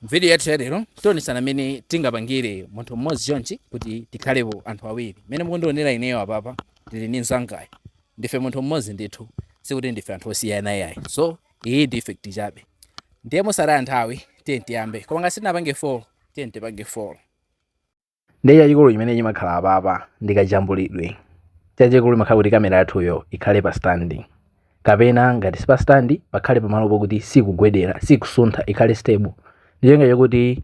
M'vidiyo yathu yalero tionetsana mmene tingapangire munthu mmodzi chonchi kuti tikhalepo anthu awiri. Mmene mukundionera ineyo apapa ndili ndi mnzangayo, ndife munthu mmodzi ndithu, sikuti ndife anthu osiyana yayi. So iyi ndi effect chabe. Ndiye mosataya nthawi tiyeni tiyambe. Koma ngati sitinapange follow, tiyeni tipange follow. ndiye chachikulu chimene chimakhala apapa ndi kajambulidwe chachikulu chimakhala kuti kamera yathuyo ikhale pa standi kapena ngati si pa standi pakhale pamalo pokuti sikugwedera sikusuntha ikhale stable ndi cholinga chokuti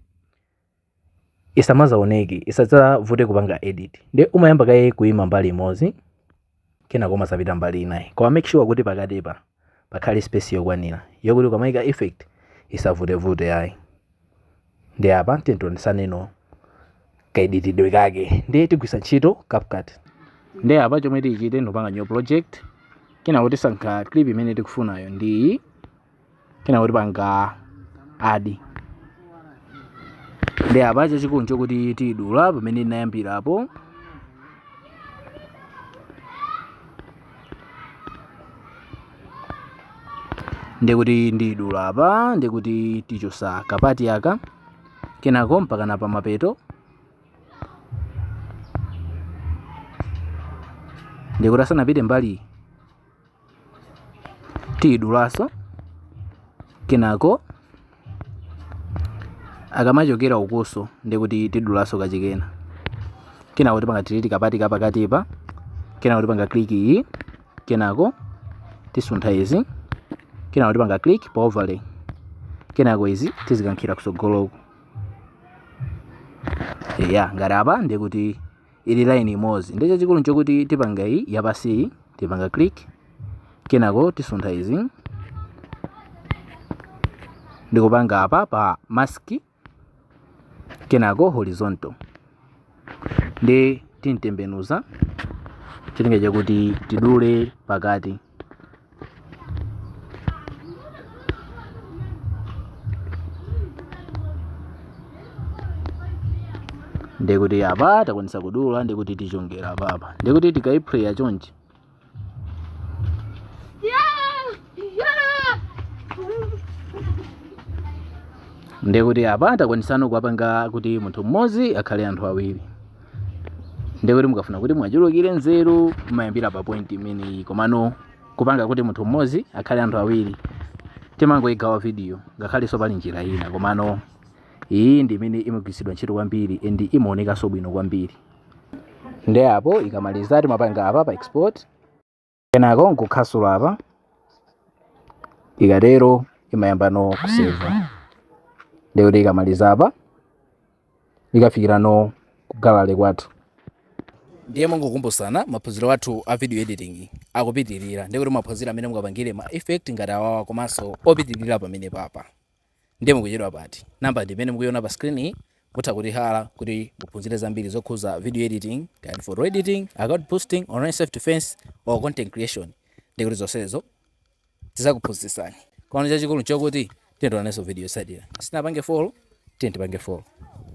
isamazaoneke isadzavute kupanga edit ndiye umayamba kaye kuima mbali imodzi kenako umazapita mbali inayo koma make sure kuti pakatipa pakhale space yokwanira yokuti ukamaika effect isavutevute ayi ndiye apa tionetsaneno kaeditidwe kake ndiye tigwiritsa ntchito CapCut ndiye apa chomwe tichite ndikupanga new project kenako tisankha clip imene tikufunayo ndi iyi kenako tipanga add ndiye apa chachikulu chokuti tidula pamene tinayambirapo ndikuti ndidula apa ndikuti tichosa kapati aka kenako mpaka na pamapeto ndikuti asanapite mbali Tiyidulaso kenako akamachokera ukuso ndikuti tidulaso kachikena kenako tipanga delete kapati kapakatipa kenako tipanga click iyi kenako tisuntha izi kenako tipanga click pa overlay kenako izi tizikankhira kusogoloko ya ngati apa ndikuti ili line imodzi ndi chachikulu nchokuti tipanga iyi yapansiyi tipanga click kenako tisuntha izi ndikupanga apa pa mask kenako horizontal ndi timtembenuza cholinga chakuti tidule pakati ndekuti apa takwanisa kudula ndekuti tichongera apapa ndekuti tikaiphreya chonchi ndekuti apa takwanisano kuwapanga kuti munthu mmodzi akhale anthu awiri ndiye kuti mukafuna kuti muchulukire nzeru mumayambira pa point imeneyi komano kupanga kuti munthu mmodzi akhale anthu awiri timangoyigawa video ngakhalenso pali njira ina komano iyi ndi imene imagwiritsidwa ntchito kwambiri and imaonekanso bwino kwambiri ndiye apo ikamaliza timapanga apa pa export kenako nkukhasula apa ikatero imayambano kuseva ndikuti ikamaliza apa ikafikirano ku gallery kwathu ndiye mongokumbusana maphunziro athu a video editing akupitirira ndikuti mumaphunzira mmene mungapangire ma effect ngati awawa komanso opitirira pamenepapa Ndiye mukuchedwa pati? Number ndi imene mukuiona pa screen-yi. Mutha kuti halla kuti muphunzire zambiri zokhuza video editing, kaya ndi photo editing, account boosting, online self defense or content creation. Ndiye kuti zonsezo tizakuphunzitsani. Koma chachikulu nchokuti tiyeni tionanenso video yotsatira. Sitinapange follow, tiyeni tipange follow.